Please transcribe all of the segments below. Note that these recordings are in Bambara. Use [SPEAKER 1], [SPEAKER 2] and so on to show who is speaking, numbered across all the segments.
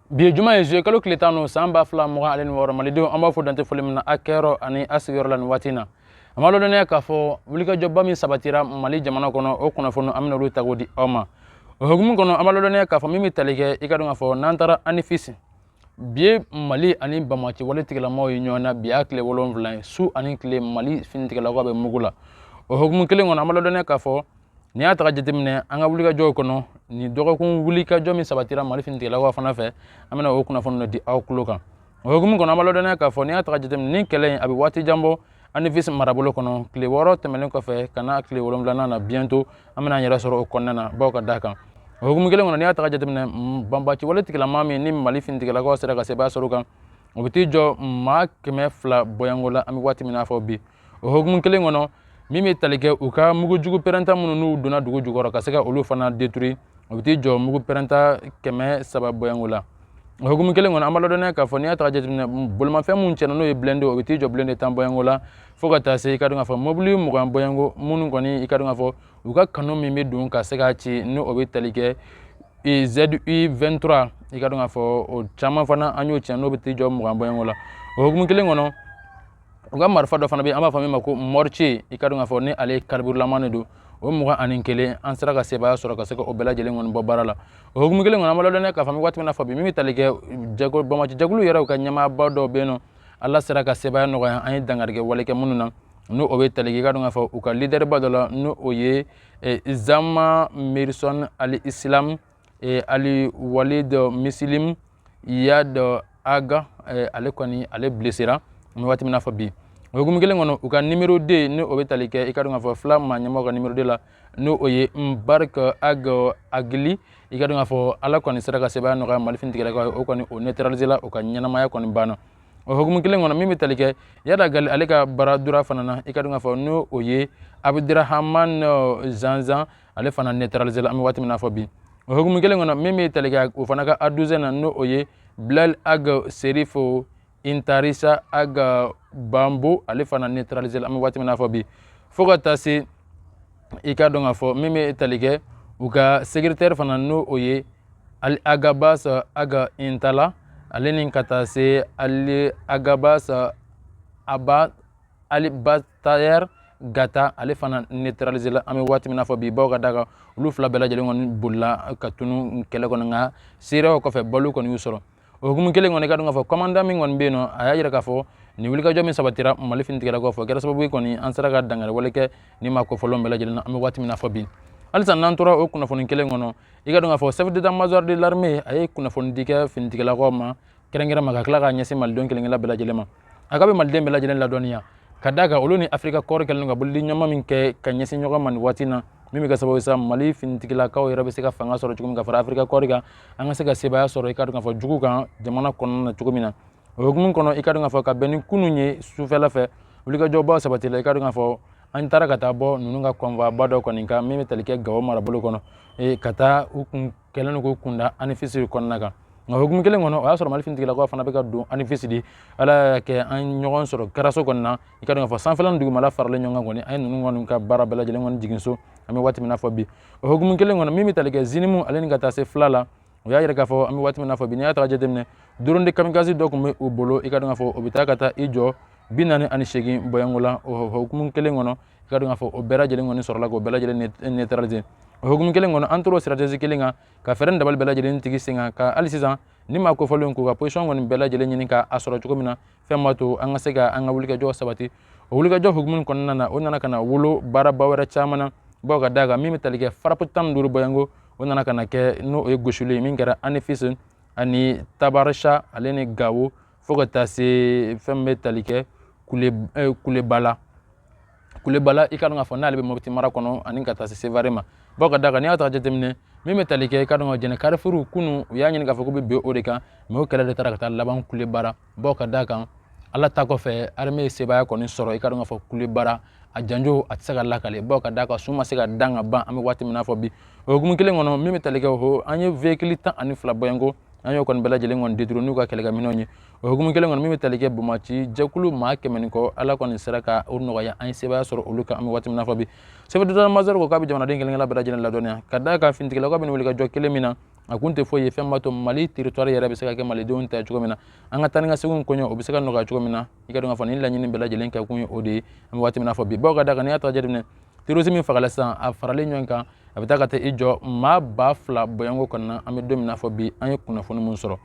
[SPEAKER 1] bi ye juma ye zuye kalo tile tan n'o san ba fila mugan ale ni wɔɔrɔ malidenw an b'aw fo dan tɛ foli min na aw kɛyɔrɔ ani aw sigiyɔrɔ la nin waati na an b'a lɔdɔnniya k'a fɔ wulikajɔba min sabatira mali jamana kɔnɔ o kunnafoni an bɛn'olu ta k'o di aw ma o hukumu kɔnɔ an b'a lɔdɔnniya k'a fɔ min bɛ tali kɛ i k'a dɔn k'a fɔ n'an taara anifisi bi ye mali ani banbaci wale tigilamaw ye ɲɔgɔn na bi y'a tile wolonwula ye su ani tile mali finitigilakaw bɛ mugu la o hukumu kelen kɔnɔ an b'a lɔdɔnniya k'a fɔ n'i y'a ta ka jateminɛ an ka wulikajɔw kɔnɔ nin dɔgɔkun wulikajɔ min sabatira mali finitigilakaw fana fɛ an bɛna o kunnafoni dɔ di aw tulo kan o hukumu kɔnɔ an b'a lɔdɔnniya k'a fɔ n'i y'a ta ka jateminɛ nin kɛlɛ in a bɛ waati jan bɔ anifisi marabolo kɔnɔ tile wɔɔrɔ tɛmɛnen kɔfɛ ka na tile wolonwulanan na bientôt an bɛna an yɛrɛ sɔrɔ o kɔnɔna na baw ka da kan o hukumu kelen kɔnɔ n'i y'a ta ka jateminɛ banbaci wale tigilama min ni mali finitigilakaw sera ka sebaaya sɔrɔ kan o bɛ t'i jɔ maa kɛmɛ fila bɔyanko la an bɛ waati min na fɔ bi o hukumu kelen kɔnɔ min bɛ tali kɛ u ka mugu jugu pɛrɛnta minnu n'u donna dugu jukɔrɔ ka se ka olu fana détruire o bɛ t'i jɔ mugu pɛrɛnta kɛmɛ saba bɔyanko la o hukumu kelen kɔnɔ an b'a ladɔnniya k'a fɔ n'i y'a ta ka jateminɛ bolimafɛn minnu cɛnna n'o ye blindé o bɛ t'i jɔ blindé tan bɔyanko la fo ka taa se i k'a dɔn k'a fɔ mobili mugan bɔyanko minnu kɔni i k'a dɔn k'a fɔ u ka canon min bɛ don ka se k'a ci ni o bɛ tali kɛ ZU 23 i k'a dɔn k'a fɔ o caman fana an y'o cɛn n'o bɛ t'i jɔ mugan bɔyanko la o hukumu kelen kɔnɔ u ka marifa dɔ fana bɛ yen an b'a fɔ min ma ko mortier i k'a dɔn k'a fɔ ni ale kariburulama de don o mugan ani kelen an sera ka sebaaya sɔrɔ ka se ka o bɛɛ lajɛlen kɔni bɔ baara la o hukumu kelen kɔnɔ an b'a lɔdɔnniya k'a fɔ an bɛ waati min na fɔ bi min bɛ tali kɛ jɛkulu banbaci jɛkulu yɛrɛ u ka ɲɛmaaba dɔw bɛ yen ni ala sera ka sebaaya nɔgɔya an ye dangarikɛ wale kɛ minnu na n'o o bɛ tali kɛ i k'a dɔn k'a fɔ u ka lidɛriba dɔ la n'o o ye zama mirisɔn al islam e ali walid muslim iyad ag e, ale kɔni ale blesséra an bɛ waati min na fɔ bi o hukumu kelen kɔnɔ u ka numéro deux ni o bɛ tali kɛ i k'a dɔn k'a fɔ FLA maa ɲɛmɔgɔ ka numéro deux la n'o o ye mbarek ag akli i k'a dɔn k'a fɔ ala kɔni sera ka sebaaya nɔgɔya mali finitigilakaw ye o kɔni o neutraliser la o ka ɲɛnamaya kɔni banna o hukumu kelen kɔnɔ min bɛ tali kɛ iyad ag ali ale ka bras droit fana na i k'a dɔn k'a fɔ n'o o ye abudurahaman zanzan ale fana neutraliser la an bɛ waati min na fɔ bi o hukumu kelen kɔnɔ min bɛ tali kɛ o fana ka adjoint na n'o o ye bilal ag serifo intarisa ag bambo ale fana neutraliser la an bɛ waati min na fɔ bi fo ka taa se i k'a dɔn k'a fɔ min bɛ tali kɛ u ka secrétaire fana n'o o ye alghabass ag intalla ale ni ka taa se alghabass aba ali ba tayɛri gata ale fana neutraliser la an bɛ waati min na fɔ bi bawo ka da kan olu fila bɛɛ lajɛlen kɔni bolila ka tunu kɛlɛ kɔnɔ nka seereyaw kɔfɛ balo kɔni y'u sɔrɔ o hukumu kelen kɔnɔ i ka dɔn k'a fɔ kɔmandan min kɔni bɛ yen nɔ a y'a jira k'a fɔ nin wulikajɔ min sabatira mali finitigilakaw fɛ o kɛra sababu ye kɔni an sera ka dankari wale kɛ ni maa kofɔlenw bɛɛ lajɛlen na an bɛ waati min na fɔ bi halisa n'an tora o kunnafoni kelen kɔnɔ i ka dɔn k'a fɔ chef d'état major de l'armée a ye kunnafoni di kɛ finitigilakaw ma kɛrɛnkɛrɛn ma ka tila k'a ɲɛsin malidenw kelenkelen bɛɛ lajɛlen ma a k'a bɛ maliden bɛɛ lajɛlen ladɔnniya ka d'a kan olu ni afirika kɔɔri kɛlen ka bolodiɲɔgɔnma min kɛ ka ɲɛsin ɲɔgɔn ma nin waati na min bɛ kɛ sababu ye sa mali finitigilakaw yɛrɛ bɛ se ka fanga sɔrɔ cogo min ka fara afirika kɔɔri kan an ka se ka sebaaya sɔrɔ i ka dɔn k'a fɔ jugu kan jamana kɔnɔna na cogo min na o hukumu kɔnɔ i ka dɔn k'a fɔ ka bɛn ni kunun ye sufɛla fɛ wulikajɔbaw sabatila i ka dɔn k'a fɔ an taara ka taa bɔ ninnu ka convoi ba dɔ kɔni kan min bɛ tali kɛ gawo marabolo kɔnɔ ka taa u kun kɛlen k'u kunda anifisi kɔnɔna kan nka hukumu kelen kɔnɔ o y'a sɔrɔ mali finitigilakaw fana bɛ ka don anifisi de ala y'a kɛ an ɲɔgɔn sɔrɔ kɛraso kɔni na i ka dɔn k'a fɔ sanfɛla ni dugumala faralen ɲɔgɔn kan kɔni an ye ninnu kɔni ka baara bɛɛ lajɛlen kɔni jigin so an bɛ waati min na fɔ bi o hukumu kelen kɔnɔ min bɛ tali kɛ zinimu ale ni ka taa se fila la o y'a yira k'a fɔ an bɛ waati min na fɔ bi n'i y'a ta ka jateminɛ drone de kamikaze dɔ tun bɛ u bolo i ka dɔn k'a fɔ o bɛ taa ka taa i jɔ bi naani ani seegin bɔyanko la o hukumu kelen kɔnɔ i ka dɔn k'a fɔ o bɛɛ lajɛlen kɔni sɔrɔla k'o bɛɛ lajɛlen neutraliser o hukumu kelen kɔnɔ an tor'o stratégie kelen kan ka fɛɛrɛ ni dabali bɛɛ lajɛlen tigɛ sen kan ka hali sisan ni maa kofɔlenw k'u ka position kɔni bɛɛ lajɛlen ɲini k'a sɔrɔ cogo min na fɛn b'a to an ka se ka an ka wulikajɔ sabati o wulikajɔ hukumu kɔnɔna na o nana ka na wolo baaraba wɛrɛ caman na bawo ka d'a kan min bɛ tali kɛ frappe tan ni duuru bɔyanko o nana ka na kɛ n'o ye gosili ye min kɛra anifisi ani tabarisa ale ni gawo fo ka taa se fɛn min bɛ tali kɛ kule eh, kuleba la kuleba la i ka dɔn k'a fɔ n'ale bɛ mopti mara kɔnɔ ani ka taa se sevare ma bawo ka da kan n'i y'a ta jateminɛ min bɛ tali kɛ i ka dɔn ka jɛnɛ karifuru kunun u y'a ɲini k'a fɔ k'u bɛ bin o de kan mɛ o kɛlɛ de taara ka taa laban kulebara bawo ka da kan ala ta kɔfɛ arme ye sebaaya kɔni sɔrɔ i ka dɔn k'a fɔ kulebara a janjo a tɛ se ka lakale bawo ka da kan su ma se ka dan ka ban an bɛ waati min na fɔ bi o hukumu kelen kɔnɔ min bɛ tali kɛ o an ye véhicule tan ani fila bɔyanko an y'o kɔni bɛɛ lajɛlen kɔni détruit n'u ka kɛlɛkɛminɛnw ye o hukumu kelen kɔni min bɛ tali kɛ banbaanci jɛkulu maa kɛmɛ ni kɔ ala kɔni sera ka o nɔgɔya an ye sebaaya sɔrɔ olu kan an bɛ waati min na fɔ bi chef d'état major ko k'a bɛ jamanaden kelen bɛɛ lajɛlen ladɔnniya ka d'a kan finitigilakaw bɛ wulikajɔ kelen min na a kun tɛ foyi ye fɛn b'a to mali teritɔri yɛrɛ bɛ se ka kɛ malidenw ta cogo min na an ka taa ni ka segin koɲɛw o bɛ se ka nɔgɔya cogo min na i ka dɔn k'a fɔ nin laɲini bɛɛ lajɛlen kɛ kun ye o de ye an bɛ waati min na fɔ bi bawo ka da kan n'i y'a ta jateminɛ terrorisme fagala sisan a faralen ɲɔgɔn kan a bɛ taa ka taa i jɔ maa ba fila bɔyanko kɔnɔna an bɛ don min na fɔ bi an ye kunnafoni minnu sɔrɔ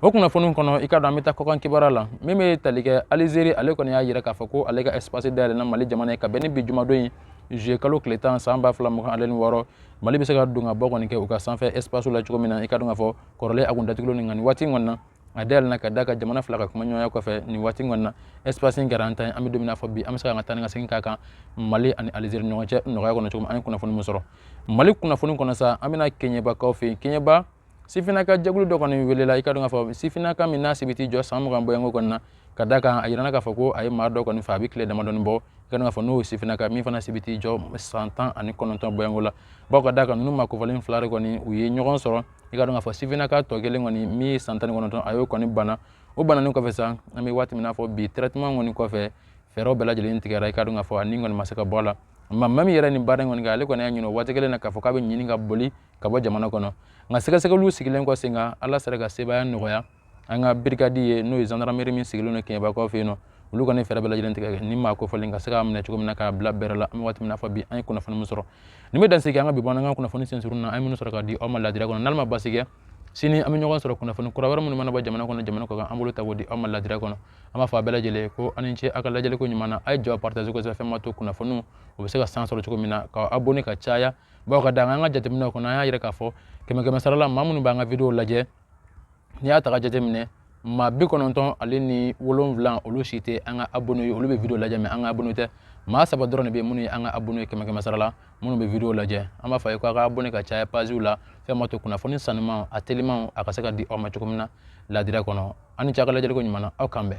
[SPEAKER 1] o kunnafoni kɔnɔ i ka dɔn an bɛ taa kɔkan kibaruya la min bɛ tali kɛ alizeri ale kɔni y'a jira k'a fɔ ko ale ka espace dayɛlɛna mali jamana ye ka bɛn ni bi jumadon in zuye kalo tile tan san ba fila mugan ale ni wɔɔrɔ mali bɛ se ka don ka bɔ kɔni kɛ u ka sanfɛ espace la cogo min na i ka dɔn k'a fɔ kɔrɔlen a kun datugulen nin kan waati kɔnɔna na a dayɛlɛnna ka da ka jamana fila ka kuma ɲɔgɔnya kɔfɛ nin waati kɔni na espace in kɛra an ta ye an bɛ don min na fɔ bi an bɛ se ka an ka taa ni ka segin k'a kan mali ani alizeri ɲɔgɔn cɛ nɔgɔya kɔnɔ cogo min an ye kunnafoni min sɔrɔ mali kunnafoni kɔnɔ sa an bɛna keɲebakaw fɛ yen keɲeba sifinnaka jɛkulu dɔ kɔni welela i ka dɔn k'a fɔ sifinnaka min n'a si bɛ t'i jɔ san mugan bɔɲɔgɔnko kɔni na ka da kan a yirana k'a fɔ ko a ye maa dɔ kɔni faga a bɛ tile damadɔni bɔ i ka dɔn k'a fɔ n'o ye sifinnaka min fana si bɛ t'i jɔ san tan ani kɔnɔntɔn bɔɲɔgɔnko la bawo ka da kan ninnu maa kofɔlen fila de kɔni u ye ɲɔgɔn sɔrɔ i ka dɔn k'a fɔ sifinnaka tɔ kelen kɔni min ye san tan ni kɔnɔntɔn a y'o kɔni bana o bananen kɔfɛ sa an bɛ waati min na fɔ bi traitement kɔni kɔfɛ fɛɛrɛw bɛɛ lajɛlen tigɛra i ka dɔn k'a fɔ a ni kɔni ma se ka bɔ a la nka maa min yɛrɛ nin baara in kɔni kɛ ale kɔni y'a ɲini o waati kelen na k'a fɔ k'a bɛ ɲini ka boli ka bɔ jamana kɔnɔ nka sɛgɛsɛgɛliw sigilen kɔ sen kan ala sera ka sebaaya nɔgɔya an ka birikadi ye n'o ye zandarameri min sigilen don keɲebakaw fɛ yen nɔ olu kɔni fɛɛrɛ bɛɛ lajɛlen tigɛ ni maa kofɔlen ka se k'a minɛ cogo min na k'a bila bɛrɛ la an bɛ waati min na fɔ bi an ye kunnafoni min sɔrɔ nin bɛ dansigi an ka bi bamanankan kunnafoni sensurun na an ye minnu sɔrɔ k'a di aw ma ladira kɔnɔ n'ala ma basi kɛ sini an bɛ ɲɔgɔn sɔrɔ kunnafoni kura wɛrɛ minnu mana bɔ jamana kɔnɔ jamana kɔkan an b'olu ta k'u di aw ma ladira kɔnɔ an b'a fɔ a bɛɛ lajɛlen ko aw ni ce aw ka lajɛliko ɲuman na a ye video partage kosɛbɛ fɛn ma to kunnafoniw o bɛ se ka sanga sɔrɔ cogo min na ka abonné ka caya bawo ka da an ka jateminɛw kɔnɔ an y'a yira k'a fɔ kɛmɛ kɛmɛ sara la maa minnu b'an ka video lajɛ n'i y'a ta ka jateminɛ maa bi kɔnɔntɔn ale ni wolonwula olu si tɛ an ka abonne ye olu bɛ video lajɛ mais an ka abonne tɛ maa saba dɔrɔn de bɛ minnu ye an ka abonne ye kɛmɛ kɛmɛ sara la minnu bɛ video lajɛ an b'a fɔ a ye ko a ka abonne ka caya paziw la fɛn ma to kunnafoni sanuman a teliman a ka se ka di aw ma cogo min na ladira kɔnɔ aw ni ce aw ka lajɛliko ɲuman na aw k'an bɛn